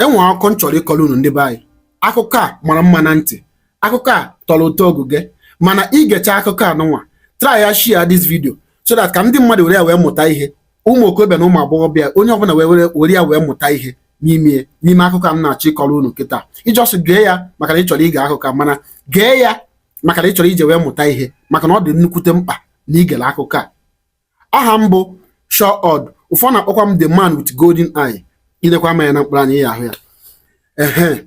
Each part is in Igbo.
e nwere akụkọ m chọrọ ịkọrọ unu ndị be anyị akụkọ a mara mma na ntị akụkọ a tọrọ ụtọ oguge mana i gechaa akụkọ a nụnwa try ya share this video so that ka ndị mmadụ were ya wee mụta ihe ụmụ okorobịa na ụmụ agbọghọbịa onye ọbụla wee were were ya wee mụta ihe n'ime n'ime akụkọ a m na-achọ ịkọrọ unu kịta ị just gee ya maka na ị chọrọ ige akụkọ a mana gee ya maka na ị chọrọ iji wee mụta ihe maka na ọ dị nnukwute mkpa na i gere akụkọ a aha m bụ Shaw Odd ụfọdụ na-akpọkwa m the man with golden eye i lekwa anya na mkpụrụ anya ya ahụ ya ehe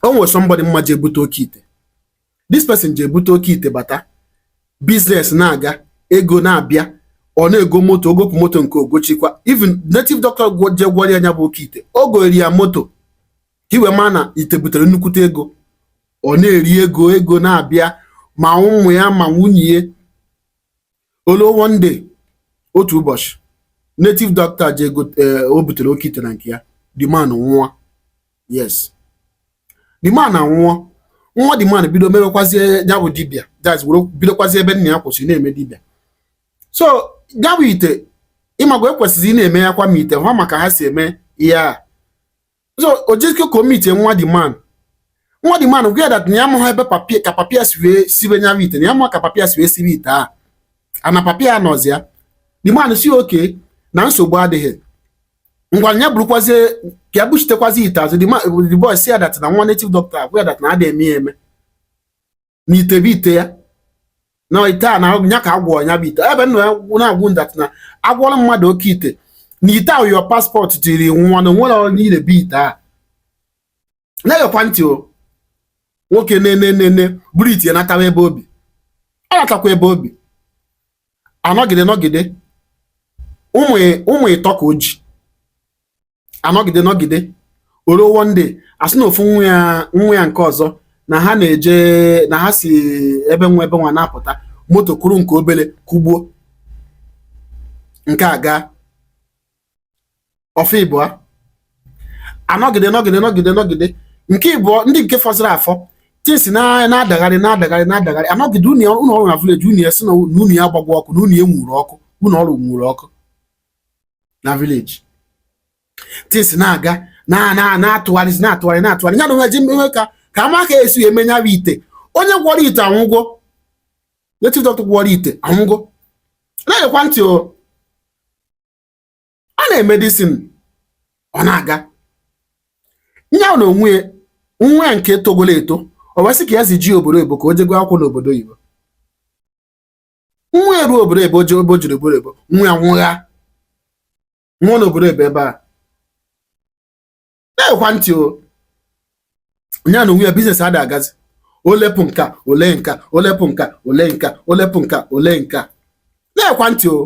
o nwere somebody m ma je bute oke ite this person je bute oke ite bata business na-aga ego na-abịa ọ na-ego moto o gopụ moto nke o gochikwa even native doctor je gwọrọ ya nya bụ oke ite o gooro ya moto ka i wee ma na ite butere nnukwute ego ọ na-eri ego ego na-abịa ma ụmụ ya ma nwunye ya o luo one day otu ụbọchị native doctor o je butere oke ite na nke ya the man anwụọ yes the man anwụọ nwa the man bido mewekwazie ya bụ dibia just bidokwazie ebe nna ya kwụsịrị na-eme dibia so ya bụ ite ị mago ekwesịrị ịna-eme ya kwa ma ite ha ma ka ha si eme ihe a so o jezie ka o meetie nwa the man nwa the man agwa ya that na ya amaghị ebe papa ya ka papa ya si wee sibe nya wụ ite na ya amaghị ka papa ya si wee sibe ite a na papa ya anọzi ya the man sị okay na nsogbu adịghị ngwa ya burukwazie ka ya buchitekwazi ite azụ the boy sị ya that na nwa native doctor agwa ya that na adịghị eme ya eme na ite bụ ite ya na ite a na ya ka a gwọọ ya bụ ite ebe m nọ na-agwa unu that na a gwọrọ mmadụ oke ite na ite ahụ your passport tiri nwa na o nwere onye ile bụ ite a na-egekwa ntị o nwoke enee enee buru ite natawa ebe obi ọ natakwa ebe obi anọgide nọgide ụmụ ịtọ ka o ji anọgide nọgide o ruo one day a sị na ofu nwa ya nwa ya nke ọzọ na ha na-eje na ha si ebe nwa ebe nwa na-apụta moto kụrụ nke obele kụgbuo nke a gaa ọ fọ ịbụa anọgide nọgide nọgide nọgide nke ịbụọ ndị nke fọziri afọ things na-adagharị na-adagharị na-adagharị anọgide ụlọ ọ rụ na village ụnọ ya sị na ụnọ ya gbagwo ọkụ na ụnọ ya nwuru ọkụ ụnọ ọ rụ nwuru ọkụ na village things na-aga na-atụgharịzi na-atụgharị na-atụgharị ya na onwe ji mmewe ka ka a ma ka e si eme ya bụ ite onye gwọrọ ite anwụgo native doctor gwọrọ ite anwụgo na-egekwa ntị o a na-eme this thing ọ na-aga nya na o nwee nwa nke togolo eto o wee sị ka ya zije obodo oyibo ka o je gụọ akwụkwọ n'obodo oyibo nwa eru obodo ebe oji obo jiri bụrụ ebo nwa ya nwụgha nwụọ n'obodo ebe ebe a na-ekwa ntị o nya na onwe ya biznes adị agazi olepụ nka ole nka olepụ nka ole nka olepụ nka ole nka na-ekwa ntị o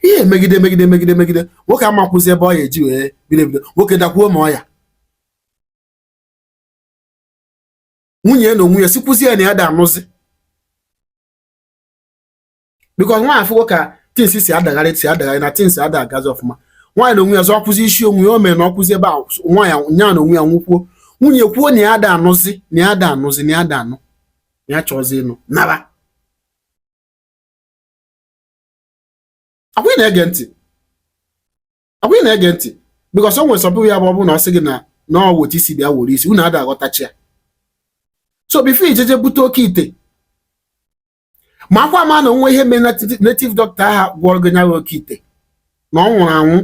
ihe megide megide megide megide nwoke amakwụzi ebe ọ ya eji wee bido ebido nwoke dakwuo ma ọ ya nwunye ya na onwe ya sịkwuzi ya na ya ada anụzi because nwaanyị afụgo ka things si adagharị si adagharị na things ada agazi ọfụma nwaanyị na onwe ya zọkwuzi isi onwe ya o mere na ọkwụzi ebe a nwaanyị nya na onwe ya nwụkwuo nwunye kwuo na ya ada anụzi na ya ada anụzi na ya ada anụ na ya achọzi ịnụ nara ọkwa ị na-ege ntị ọkwa ị na-ege ntị because o nwere sọpụ ya bụ ọ bụrụ na ọ sị gị na na ọ weta isi bịa were isi unu ada aghọtachi ya so before i jeje bute oke ite makwa ama na o nwe ihe mere native doctor aha gwọrọ gị nya bụ oke ite na ọ nwụrụ anwụ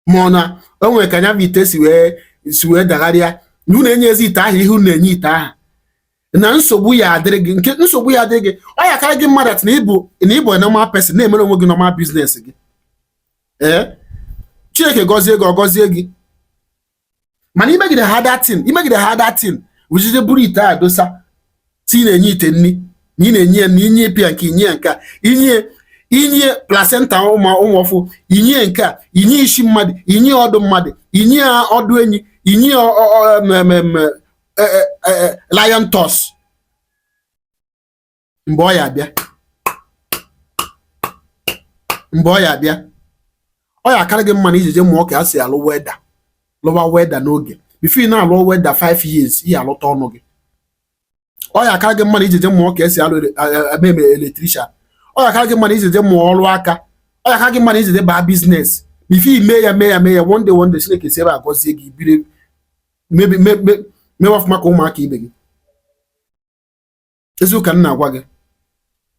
ma ọ na o nwere ka nya bụ ite si wee si wee dagharịa na unu enyezi ite ahụ ihe unu na-enye ite ahụ na nsogbu ya adịrị gị nke nsogbu ya adịrị gị ọ ya akarị gị mma that na ị bụ na ị bụ normal person na-emere onwe gị normal business gị ee chineke gọzie gị ọ gọzie gị mana i megide ha that thing i megide ha that thing wụjide buru ite a dosa sị ị na-enye ite nri na ị na-enye ya na i nye pịa nke i nye ya nke a i nye i nye placenta ụmụ ụmụ ọfụụ i nye nke a i nye isi mmadụ i nye ọdụ mmadụ i nye ọdụ enyi i nye eh, eh, eh, lion tusk mgbe ọ ya abịa mgbe ọ ya abịa ọ ya akarị gị mma na i jeje mụọ ka e si alụ welder lụwa welder n'oge before ị na-alụ welder 5 years ị ya alụta ọnụ gị ọ ya akarị gị mma na i jeje mụọ ka e si alụ eme electrician ọ ya akarị gị mma na i jeje mụọ ọrụ aka ọ ya akarị gị mma na i jeje baa business before i mee ya mee ya mee ya one day one day Chineke si ebe a gọzie gị biri mebi mewe ọfụma ka ụmụaka ibe gị eziokwu ka m na-agwa gị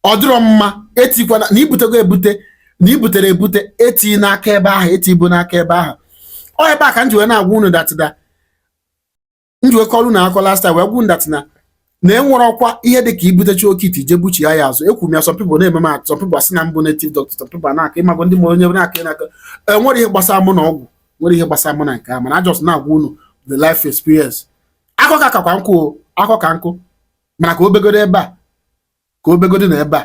ọ dịrọ mma etikwana na i butego ebute na i butere ebute eti n'aka ebe ahụ eti ibu n'aka ebe ahụ ọ ebe a ka m ji wee na-agwa unu that m ji wee kọrọ unu akọ last time wee gwa unu that na na enwere ọkwa ihe dị ka i butecha oke ite je buchi ya azụ ekwu m ya some people na-eme m atụ some people asị na m bụ native doctor some people na-aka ị mago ndị mụrụ onye na-aka ị na-aka enwere ihe gbasara mụ na ọgwụ nwere ihe gbasara mụ na nke a mana I just na-agwa unu the life experience akọ ka kakwa nkụ akọ ka nkụ mana ka o begodo ebe a ka o begodo na ebe a